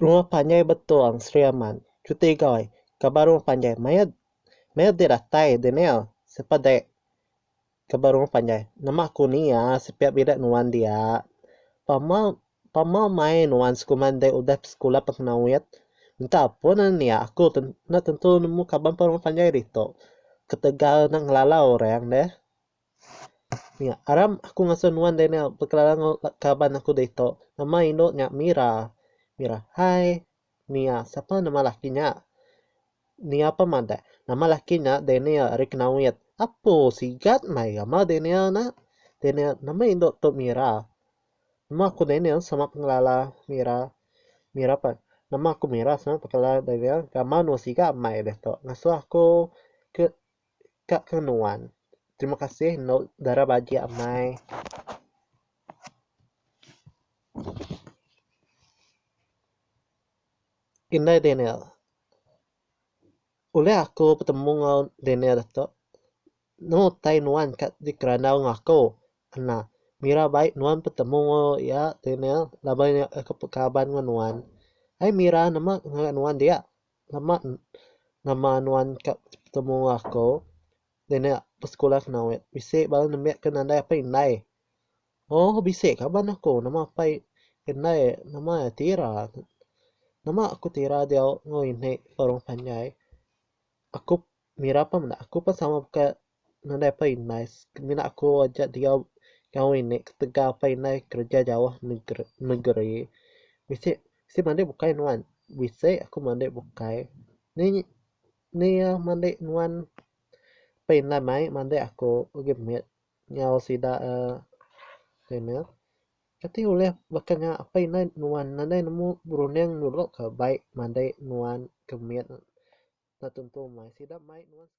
Rumah panjai betong Sri Aman. Cuti goi. Kaban rumah panjai. Maya maya diratai Daniel. Siapa dek? Ke ba rumah panjai. Nama ku ni ya sepiak bidak nuan dia. Pama pama mai nuan sekuma ndai udah besekula pekena wit. Minta pun enda nia aku ten enda tentu nemu kaban pa rumah panjai ditu. Ketegal enda ngelala orang deh. Nia aram aku ngasuh nuan deh nia bekelala enggau kaban aku ditu. Nama indu nya Mira. Mira, hai. Nia, sapa nama laki nya? Nia pun madah, Nama laki nya Daniel ari Kenawit. Apo, sigat mai gamal Daniel ena? Daniel, nama indu tu Mira? Nama aku Daniel sama pengelala Mira. Mira pun, nama aku Mira sama pengelala Daniel. Gamal nuan sigat mai ditu ngasuh aku ke. ka ke nuan. Terima kasih enda dara bagi amai. Indai Daniel. Ulih aku betemu enggau Daniel tu. Nemu utai nuan ka di kerandau enggau aku. Ena. Mira bai nuan betemu enggau iya Daniel laban iya ke pekaban enggau nuan. Ai mira nemu ngagai nuan dia. Lama nama nuan ka betemu enggau aku dinak besekula kena wek bisi baru nembiak aku nadai apai indai oh bisi kaban aku nama apai indai nama iya tira nama aku tira diau enggau inek orang panjai aku. Mira pun meda aku pun sama baka nadai pa indai semina aku aja diau enggau ngini ketegal pa indai kereja jauh negeri negeri bisi bisi mandi bukai nuan bisi aku mandi bukai ni ni iya mandi nuan pa indai mai mandi aku agi mit enggau sida uhh tu nya. Kati ulih baka nya apai indai nuan nadai nemu berunding nulok ka baik madai nuan ke mit enda tentu mai sida mai nuan sekali.